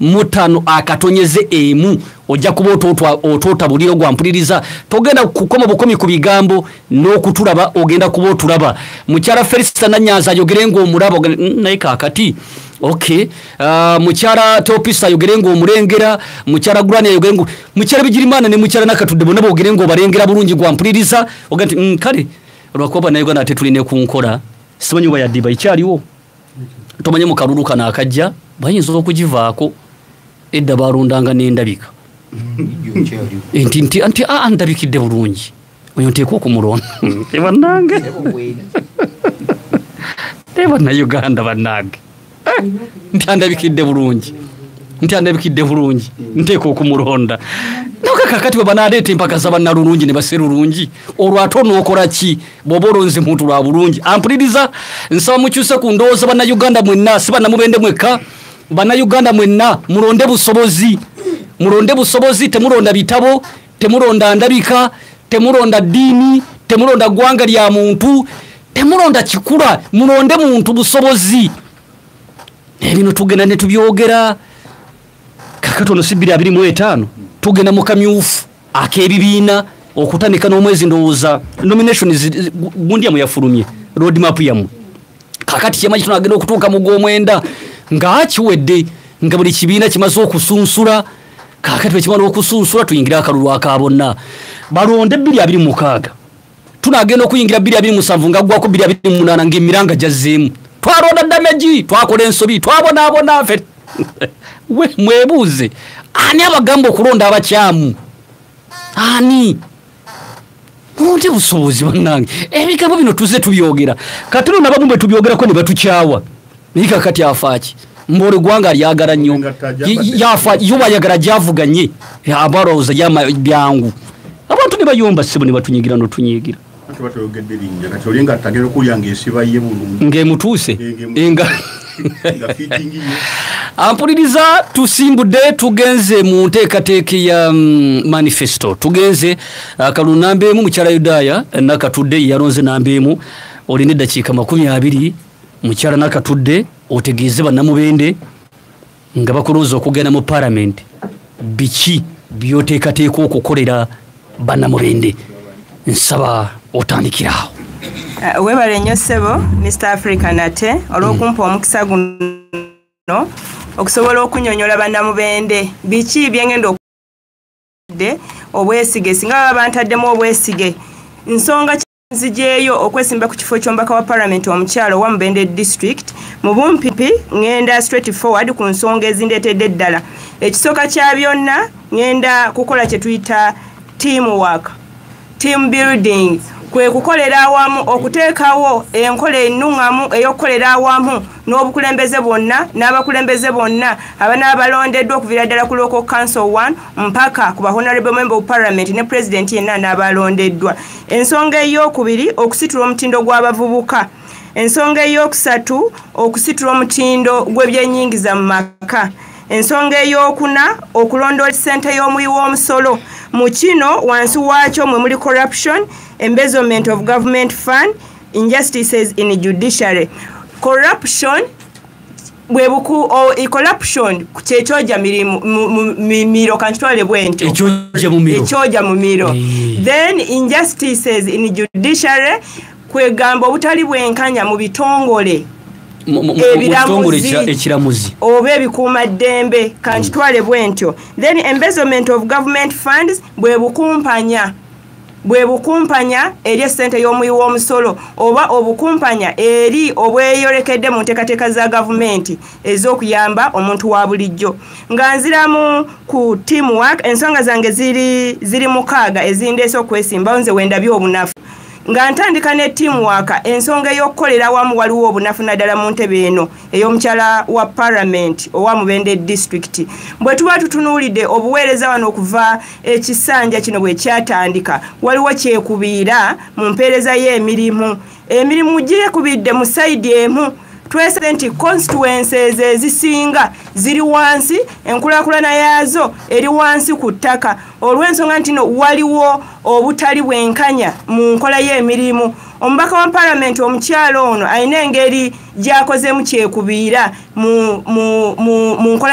mutano akatonyeze emu ojja kuba otoota buliro gwa mpuliriza togenda kukoma bukomi ku bigambo n'okutulaba ogenda kuba otulaba mukyala felisita nanyanza ayogere ngaomulaba mm, naye kakati ok uh, mukyala teopisa ayogere ngaomulengera mukyala gurani ayogere nga mukyala bigirimana ne mukyala nakatudde bonna bogere ngaobalengera bulungi gwa mpuliriza ogenda ti mm, kale olwakuba banauganda ate tulina ekunkola simanyi oba yaddiba ikyaliwo tomanye mu kalulu kano akajja bayinza okugivaako edda balondanga n'endabika nti nti a ndabikidde bulungi oyo nteeka okumulonda ebanange naye bannayuganda bannange eh, nti andabikidde bulungi nti andabikidde bulungi nteeka okumulonda nokakakati bwe banaleeta empaka za bannalulungi ne baserulungi olwo ate onookola ki bwoba olonze muntu lwa bulungi ampuliriza nsaba mukyuse ku ndowooza bannayuganda mwenna si bannamubende mwekka bannayuganda mwenna mulonde busobozi mulonde busobozi temulonda bitabo temulonda ndabika temulonda ddiini temulonda ggwanga lya muntu temulonda kikula mulonde muntu busobozi naye bino tugenda ne tubyogera kakati ono si biri abiri mu etaano tugenda mu kamyufu ak'ebibiina okutandika n'omwezi ndowooza nomination gundi yamu yafulumye road map yamu kakati kyemanyi kino agenda okutuuka mu gw'omwenda nga kiwedde nga buli kibiina kimaze okusunsula kakati bwekimala okusunsula tuyingire akalulu aka bonna balonde ebbiri abiri mukaaga tunagenda okuyingira 227 nga gwako 228 ngaemiranga gyazzeemu twalonda damagi twakola ensobi twabonaabona fe mwebuuze ani abagamba okulonda abakyamu ani munti busobozi banange ebigambo bino tuze tubyogera kati no nabamu bwe tubyogerako ne batukyawa naye kakati afaaki mbuli gwanga lyagala nnyo yubayagala gyavuganye abalowooza byangu abantu ne bayomba ssebo ne batunyigira notunyigira ngaemutuuse nga ampuliriza tusimbudde tugenze mu nteekateeka ya mm, manifesto tugenze uh, kalu namba emu mukyala yudaaya nakatudde yalonze namba emu olina eddakiika makumi abiri mukyala nakatudde otegeeze bannamubende nga bakulonza okugenda mu palamenti biki byoteekateeka okukolera bannamubende nsaba otandikiraawo uh, webale nnyo ssebo mr africa nate olw'okumpa mm. omukisa guno okusobola okunyonyola bannamubende biki byengenda okudde obwesige singa baba bantaddemu obwesige nsonga nzijeeyo okwesimba ku kifo ky'omubaka wa palamenti omukyalo owa mubende district mu bumpipi ngenda straight forward ku nsonga ezindeetedde eddala ekisooka kya byonna ngenda kukola kye tuyita team work team building kwe kukolera awamu okuteekawo enkola ennuŋŋamu ey'okukolera awamu n'obukulembeze bwonna n'abakulembeze bonna abana balondeddwa okuviira ddala ku local council 1 mpaka ku bahonorable member of parliament ne president yenna n'abalondeddwa ensonga ey'okubiri okusitula omutindo gw'abavubuka ensonga ey'okusatu okusitula omutindo gw'ebyenyingiza mu maka ensonga ey'okuna okulondoola ssente y'omuyi w'omusolo mu kino wansi waakyo mwe muli corruption embezoment of government fund injustices in judiciary corruption bwebuku corruption kyekyoja mumiro kankitwale bwentyo ekyoja mumiro then injustices in judiciary kwegamba obutali bwenkanya mu bitongole ekiramuzi oba ebikuuma ddembe kankitwale bwentyo then embezoment of government funds bwebukumpanya bwe bukumpanya eri essente y'omuwi w'omusolo oba obukumpanya eri obweyolekedde mu nteekateeka za gavumenti ez'okuyamba omuntu wa bulijjo nga nziramu ku team work ensonga zange ziri ziri mukaaga ezindeese okwesimbawo nze wendabye obunafu nga ntandika ne team work ensonga ey'okukolera wamu waliwo obunafu naddala mu ntebe eno eyomukyala wa parliament owa mubende district bwetuba tutunuulidde obuweereza wano okuva ekisanja kino bwekyatandika waliwo kyekubiira mu mpeereza y'emirimu emirimu gyekubidde mu saidi emu twese nti constituences ezisinga ziri wansi enkulakulana yaazo eri wansi ku ttaka olw'ensonga ntino waliwo obutali bwenkanya mu nkola y'emirimu omubaka wa palamenti omukyalo ono alina engeri gyakozemu kyekubiira mu nkola